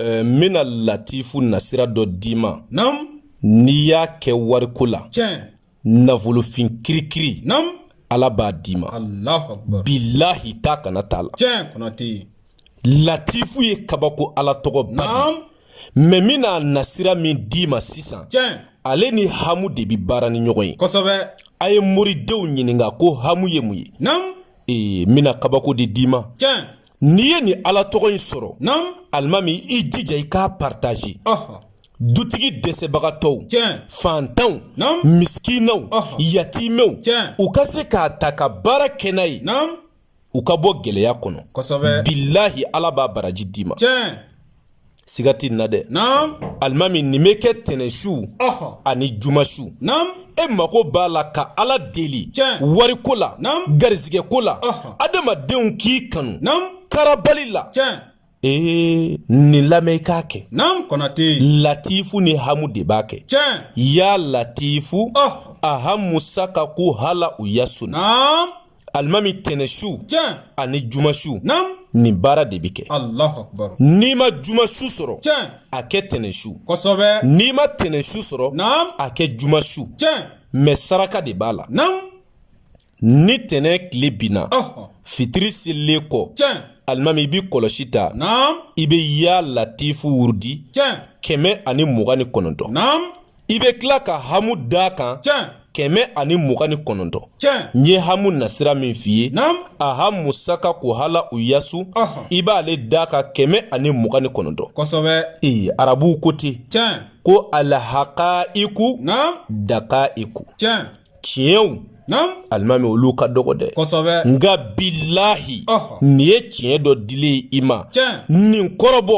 Eh, n bɛna latifu nasira dɔ d'i ma n'i y'a kɛ wariko la nafolofin kirikiri ala b'a d'i ma bilahi t'a kana t'a la latifu ye kabako ala tɔgɔ ba de mɛ n bɛn'a nasira min d'i ma sisan ale ni hamu de bɛ baara ni ɲɔgɔn ye a ye moridenw ɲininka ko hamu ye mun ye ee n bɛna kabako de d'i ma n'i ye nin ala tɔgɔ in sɔrɔ alimami i jija i k'a partaze dutigi dɛsɛbagatɔw fantanw misikinaw yatimɛw u ka se k'a ta ka baara kɛ n'a ye u ka bɔ gɛlɛya kɔnɔ bilahi ala b'a baraji d'i ma siga tɛ nin na dɛ alimami nin bɛ kɛ tɛnɛnsu ani jumasu e mako b'a la ka ala deli wariko la garizigɛko la adamadenw k'i kanu karabali la ee nin lamɛn i k'a kɛ latifu ni hamu de b'a kɛ yaa latifu ahamu sakaku halau yasu alimami tɛnɛsu ani jumasu nin baara de bɛ kɛ n'i ma jumasu sɔrɔ a kɛ tɛnɛsu n'i ma tɛnɛsu sɔrɔ a kɛ jumasu mɛ saraka de b'a la ni tɛnɛ tile binna fitiri selilen kɔ alimami i bɛ kɔlɔsi ta i bɛ yaa latifu wurudi kɛmɛ ani mugan ni kɔnɔntɔn i bɛ tila ka hamu d'a kan kɛmɛ ani mugan ni kɔnɔntɔn n ye hamu nasira min f'i ye ahamu sakaku halau yasu i b'ale d'a kan kɛmɛ ani mugan ni kɔnɔntɔn ee arabuw ko ten ko alahakayiku dakayiku tiɲɛw alimami olu ka dɔgɔ dɛ nka bilahi nin ye tiɲɛ dɔ dilen ye i ma nin kɔrɔbɔ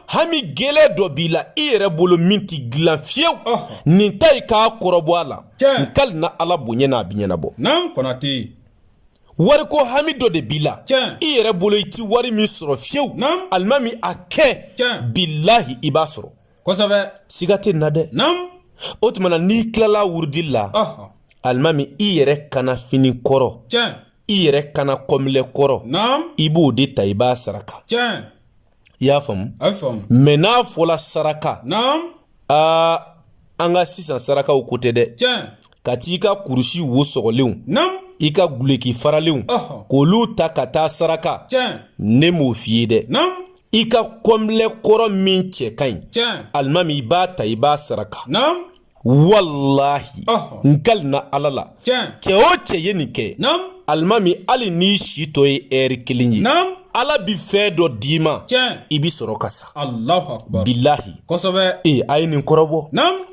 hami gɛlɛn dɔ b'i la i yɛrɛ bolo min tɛ dilan fiyewu nin ta i k'a kɔrɔbɔ a la n kali na ala bonya n'a bi ɲɛnabɔ wariko hami dɔ de b'i la i yɛrɛ bolo i ti wari min sɔrɔ fiyewu alimami a kɛ bilahi i b'a sɔrɔ kosɛbɛ siga tɛ nin na dɛ naamu o tuma na n'i tilala wurudi la ɔhɔn alimami i yɛrɛ kanna fini kɔrɔ tiɲɛ i yɛrɛ kanna kɔnpilɛ kɔrɔ naamu i b'o de ta i b'a saraka tiɲɛ i y'a faamu a bɛ faamu mɛ n'a fɔla saraka naamu aa an ka sisan sarakaw ko tɛ dɛ tiɲɛ ka t'i ka kurusi wo sɔgɔlenw naamu i ka guloki faralenw ɔhɔn k'olu ta ka taa saraka tiɲɛ ne m'o f'i ye dɛ naamu i ka kɔnbilɛ kɔrɔ min cɛ ka ɲi alimami i b'a ta i b'a saraka walahi n kalina ala la cɛ o cɛ ye nin kɛ alimami hali n'i si tɔ ye ɛri kelen ye ala bi fɛn dɔ d'i ma i bi sɔrɔ ka sa bilahi ee a ye nin kɔrɔbɔ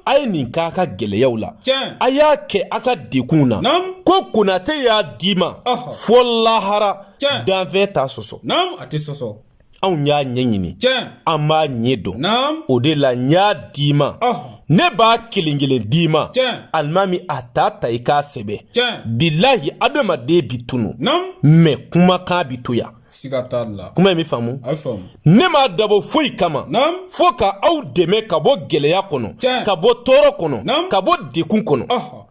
a ye nin k'a ka gɛlɛyaw la a y'a kɛ a ka dekunw na ko konate y'a d'i ma fɔ lahara Tiɲɛ. Danfɛn t'a sɔsɔ. Naam, a tɛ sɔsɔ. Anw y'a ɲɛɲini. Tiɲɛ. An b'a ɲɛ dɔn. Naam. O de la n y'a d'i ma. Ɔhɔ. Ne b'a kelen kelen d'i ma. Tiɲɛ. Alimami a t'a ta i k'a sɛbɛn. Tiɲɛ. Bilahi adamaden bi tunu. Naam. Mais kumakan bi to yan. Siga t'a la. Kuma in bɛ faamu. A bɛ faamu. Ne m'a dabɔ foyi kama. Naam. Fo ka aw dɛmɛ ka bɔ gɛlɛya kɔnɔ. Tiɲɛ. Ka bɔ tɔɔrɔ kɔnɔ. Naam. Ka bɔ dekun kɔnɔ. Ɔhɔ.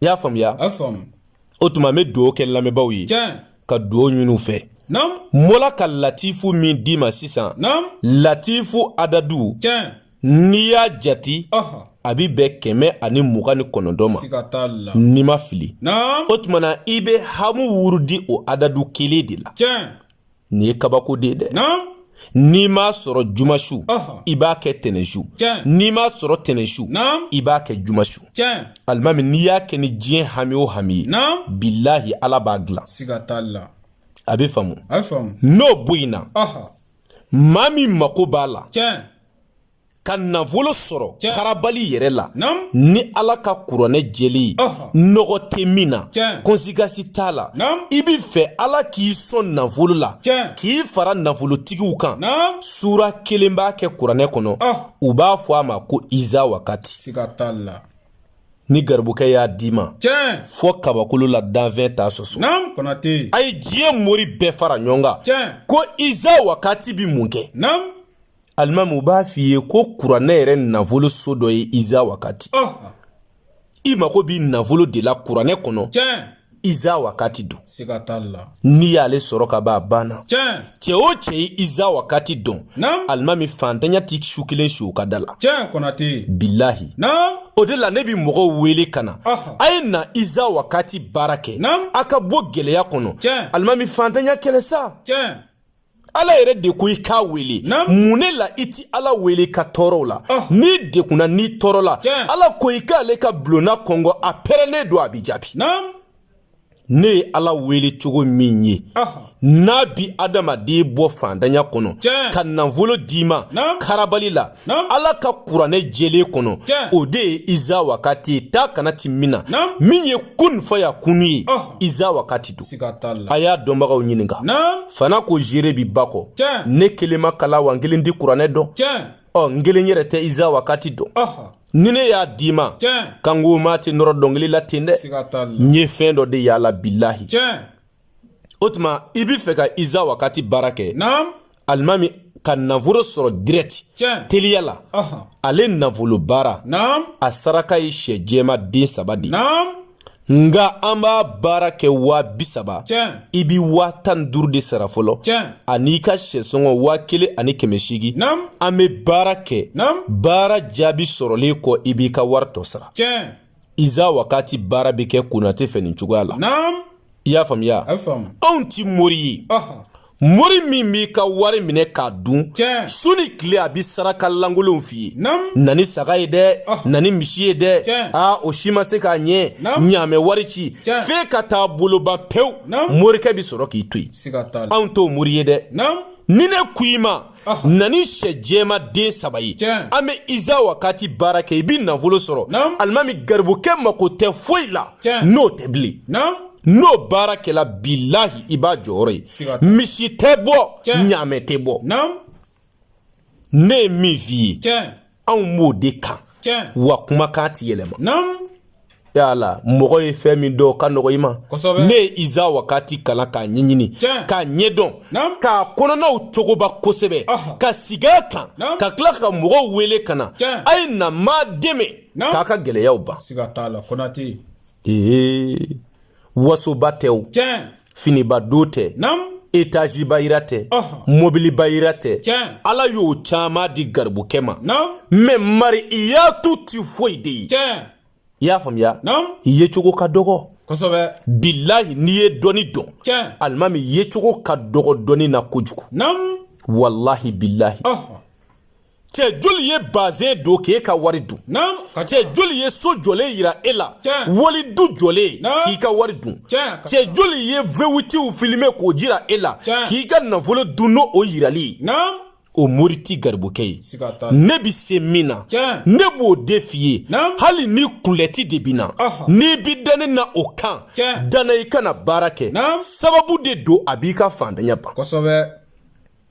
i y'a faamuya a faamu o tuma n bɛ dugawu kɛ lamɛnbaaw ye tiɲɛ ka dugawu ɲini u fɛ naamu n bɔla ka latifu min d'i ma sisan naamu latifu adadu tiɲɛ n'i y'a jati ɔhɔ a bɛ bɛn kɛmɛ ani mugan ni kɔnɔntɔn ma siga t'a la n'i ma fili naamu o tuma na i bɛ hamu wurudi o adadu kelen de la tiɲɛ nin ye kabako de ye dɛ n'i m'a sɔrɔ jumasu i b'a kɛ tɛnɛnsu n'i m'a sɔrɔ tɛnɛnsu i b'a kɛ jumasu alimami n'i y'a kɛ ni diɲɛ hami o hami ye bilahi ala b'a dilan a bɛ faamu n'o bɔ yen na maa min mako b'a la ka nafolo sɔrɔ karabali yɛrɛ la ni ala ka kuranɛ jɛlen ye nɔgɔ tɛ min na kɔnsekansi t'a la i b'a fɛ ala k'i sɔn nafolo la k'i fara nafolotigiw kan sura kelen b'a kɛ kuranɛ kɔnɔ u b'a fɔ a ma ko iza wakati ni garibukɛ y'a d'i ma fɔ kabakolo la danfɛn t'a sɔsɔ a ye diɲɛ mori bɛɛ fara ɲɔgɔn kan ko iza wakati bɛ mun kɛ alimami u b'a f'i ye ko kuranɛ yɛrɛ nafolo so dɔ ye iza wakati oh. i mago bi nafolo de la kuranɛ kɔnɔ iza wakati don n'i y'ale sɔrɔ ka ban a banna cɛ o cɛ ye iza wakati dɔn alimami fantanya ti su kelen si o ka da la bilahi o de la ne bi mɔgɔw wele ka na a ye na iza wakati baara kɛ a ka bɔ gɛlɛya kɔnɔ alimami fantanya kɛlɛ sa ala yɛrɛ de ko i k'a wele mun ne la i ti ala wele ka tɔɔrɔw la ah. n'i dekunna n'i tɔɔrɔla ala ko i k'ale ka bulonna kɔnkɔn a pɛrɛlen don a bi jaabi ne ye ala wele cogo min ye ah. n'a bi adamaden bɔ fantanya kɔnɔ ka nafolo d'i ma karabali la ala ka kuranɛ jɛlen kɔnɔ o de ye iza wakati ye taa ka na ti min na min ye kun faya kunu ye iza wakati don a y'a dɔnbagaw ɲininka fana ko jere bi ba kɔ ne kelen ma kalan wa n kelen ti kuranɛ dɔn ɔ n kelen yɛrɛ tɛ iza wakati dɔn ni ne y'a d'i ma kan ko maa tɛ nɔrɔ dɔnkili la ten dɛ n ye fɛn dɔ de y'a la bilahi o tuma i bɛ fɛ ka iza wakati baara kɛ alimami ka nafolo sɔrɔ dirɛti teliya la ale nafolo baara a saraka ye sɛ jɛma den saba de nka an b'a baara kɛ waa bi saba i bɛ waa tan ni duuru de sara fɔlɔ an'i ka sɛsɔngɔ waa kelen ani kɛmɛ seegin an bɛ baara kɛ baara jaabi sɔrɔlen kɔ i b'i ka wari tɔ sara iza wakati baara bɛ kɛ konate fɛ nin cogoya la i y'a faamuya anw ti mori ye mori min b'i ka wari minɛ k'a dun su ni tile a bɛ saraka lankolonw f'i ye na ni saga ye dɛ ah na ni misi ye dɛ aa o si ma se k'a ɲɛ ɲaamɛ wari ci f'e ka taa boloban pewu morikɛ bɛ sɔrɔ k'i to yen anw t'o mori ye dɛ ni ne ko i ma na ni sɛ jɛma den saba ye an bɛ iza wakati baara kɛ i bɛ nafolo sɔrɔ alimami garibukɛ mako tɛ foyi la n'o tɛ bilen n'o baara kɛla bilahi i b'a jɔyɔrɔ ye misi tɛ bɔ ɲaamɛ tɛ bɔ ne ye min f'i ye anw b'o de kan wa kumakan ti yɛlɛma yala mɔgɔ ye fɛn min dɔn ka nɔgɔ i ma ne ye iza wakati kalan k'a ɲɛɲini k'a ɲɛdɔn k'a kɔnɔnaw cogoba kosɛbɛ ka sigi a kan ka tila ka mɔgɔw wele ka na a ye na n b'a dɛmɛ k'a ka gɛlɛyaw ban ee wasoba tɛ o finiba don tɛ etaziba yira tɛ mobiliba yira tɛ ala y'o caman di garibukɛ ma mɛ mari i y'a to ti foyi de ye i y'a faamuya i yecogo ka dɔgɔ bilahi n'i ye dɔnni dɔn alimami yecogo ka dɔgɔ dɔnni na kojugu walahi bilahi cɛ joli ye bazɛn don k'e ka wari dun cɛ joli ye so jɔlen yira e la wali du jɔlen k'i ka wari dun cɛ joli ye vewitiw filime k'o jira e la k'i ka nafolo dun nɔn o yirali o mori ti garibukɛ ye ne bɛ se min na ne b'o de f'i ye hali ni kulɛti de bɛ n na n'i bɛ da ne na o kan da n na i ka na baara kɛ sababu de don a b'i ka fantanya ban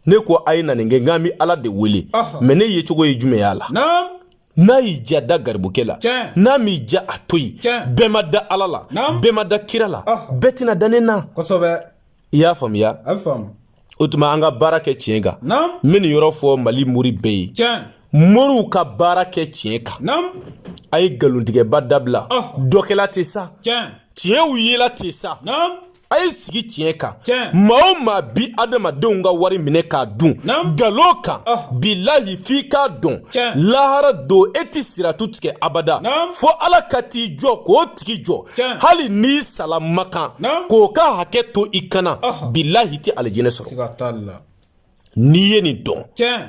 ne ko a ye na nin kɛ nka n bi ala de wele mais ne yecogo ye jumɛn y'a la n'a y'i ja da garibukɛ la n'a m'i ja a to yen bɛɛ ma da ala la bɛɛ ma da kira la bɛɛ tɛna da ne na i y'a faamuya o tuma an ka baara kɛ tiɲɛ kan n bɛ nin yɔrɔ fɔ mali mori bɛɛ ye moriw ka baara kɛ tiɲɛ kan a ye nkalontigɛba dabila dɔkɛla tɛ sa tiɲɛw yela tɛ sa a ye sigi tiɲɛ kan maa o maa bi adamadenw ka wari minɛ k'a dun nkalon kan ah. bilahi f'i k'a dɔn lahara don e tɛ siratu tigɛ abada fo ala ka t'i jɔ k'o tigi jɔ hali n'i sala makan k'o ka hakɛ to i kan na ah. bilahi i tɛ alijinɛ sɔrɔ n'i ye nin dɔn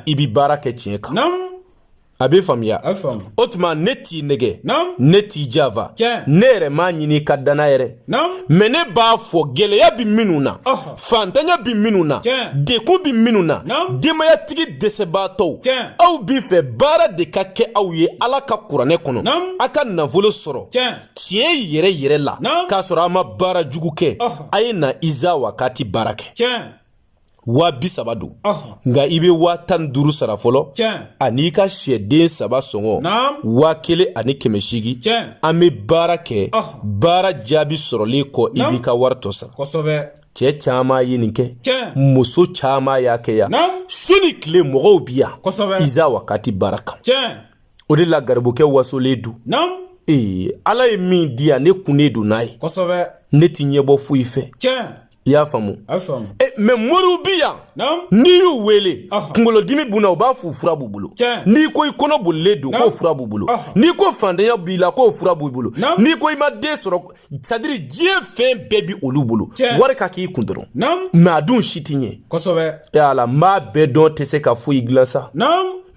i bɛ baara kɛ tiɲɛ kan a bɛ faamuya o tuma ne t'i nɛgɛn ne t'i janfa ne yɛrɛ m'a ɲini ka da n na yɛrɛ mais ne b'a fɔ gɛlɛya bɛ minnu na fantanya bɛ minnu na degun bɛ minnu na denbayatigi dɛsɛbaatɔw aw b'a fɛ baara de ka kɛ aw ye ala ka kuranɛ kɔnɔ a ka nafolo sɔrɔ tiɲɛ yɛrɛ yɛrɛ la k'a sɔrɔ a ma baara jugu kɛ a ye na iza wakati baara kɛ waa bi saba don nka i bɛ waa tan ni duuru sara fɔlɔ ani i ka syɛden saba sɔngɔ waa kelen ani kɛmɛ seegin an bɛ baara kɛ baara jaabi sɔrɔlen kɔ i b'i ka wari tɔ sara cɛ caman ye nin kɛ muso caman y'a kɛ yan su ni tile mɔgɔw bi yan iza wakati baara kan o de la garibukɛ wasolen don ee ala ye min di yan ne kun ne don n'a ye ne tɛ ɲɛbɔ foyi fɛ i y'a faamu eh, mais moriw bi yan n'i y'u wele kunkolodimi b'u na u b'a f'o fura b'u bolo n'i ko i kɔnɔ bolilen don k'o fura b'u bolo n'i ko fantanya b'i la k'o fura b'u bolo n'i ko i ma den sɔrɔ c'est-à-dire diɲɛ fɛn bɛɛ bi olu bolo wari ka k'i kun dɔrɔn mais a dun si ti ɲɛ kosɛbɛ e ala n b'a bɛɛ dɔn tɛ se ka foyi dilan sa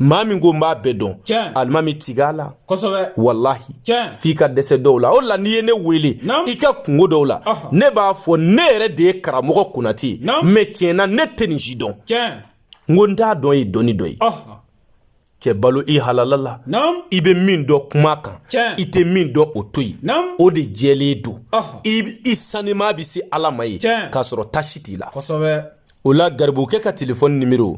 maa min ko n b'a bɛɛ dɔn alimami tig'a la kosɛbɛ walahi tiɲɛ f'i ka dɛsɛ dɔw la o la n'i ye ne wele i ka kunko dɔw la ne b'a fɔ ne yɛrɛ de ye karamɔgɔ konate ye mais tiɲɛna ne tɛ nin si dɔn n ko n t'a dɔn ye dɔnni dɔ ye cɛ balo i halala la i bɛ min dɔn kuma kan i tɛ min dɔn o to yen o de jɛlen don i saniman bɛ se ala ma yen k'a sɔrɔ tasi t'i la o la garibukɛ ka telefɔni nimero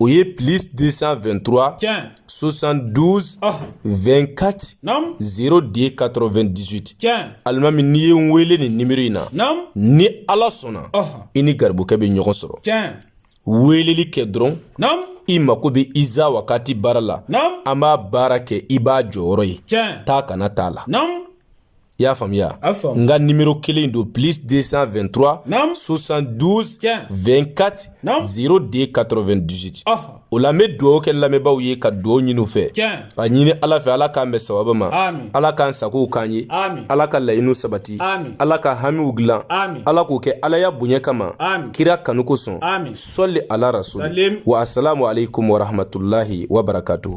o ye plus 223 tiɲɛ 72 oh. 24 naam 02 98 tiɲɛ alimami n'i ye n wele nin nimero in na naam ni ala sɔnna oh. i ni garibukɛ bɛ ɲɔgɔn sɔrɔ tiɲɛ weeleli kɛ dɔrɔn naam i mako bɛ iza wakati baara la naam an b'a baara kɛ i b'a jɔyɔrɔ ye tiɲɛ taa kana t'a la naam i y'a faamuya n ka nimero kelen don plus 223 72 24 02 98 o la n bɛ dugawu kɛ lamɛnbaaw ye ka dugawu ɲini u fɛ ka ɲini ala fɛ ala k'an bɛn sababa ma ala k'an sagow k'an ye ala ka laɲiniw sabati ala ka hamiw dilan ala k'o kɛ alaya bonya kama kira kanu kosɔn sɔli ala rasuli wa asalamu aleykum warahmatulahi wabarakatuhu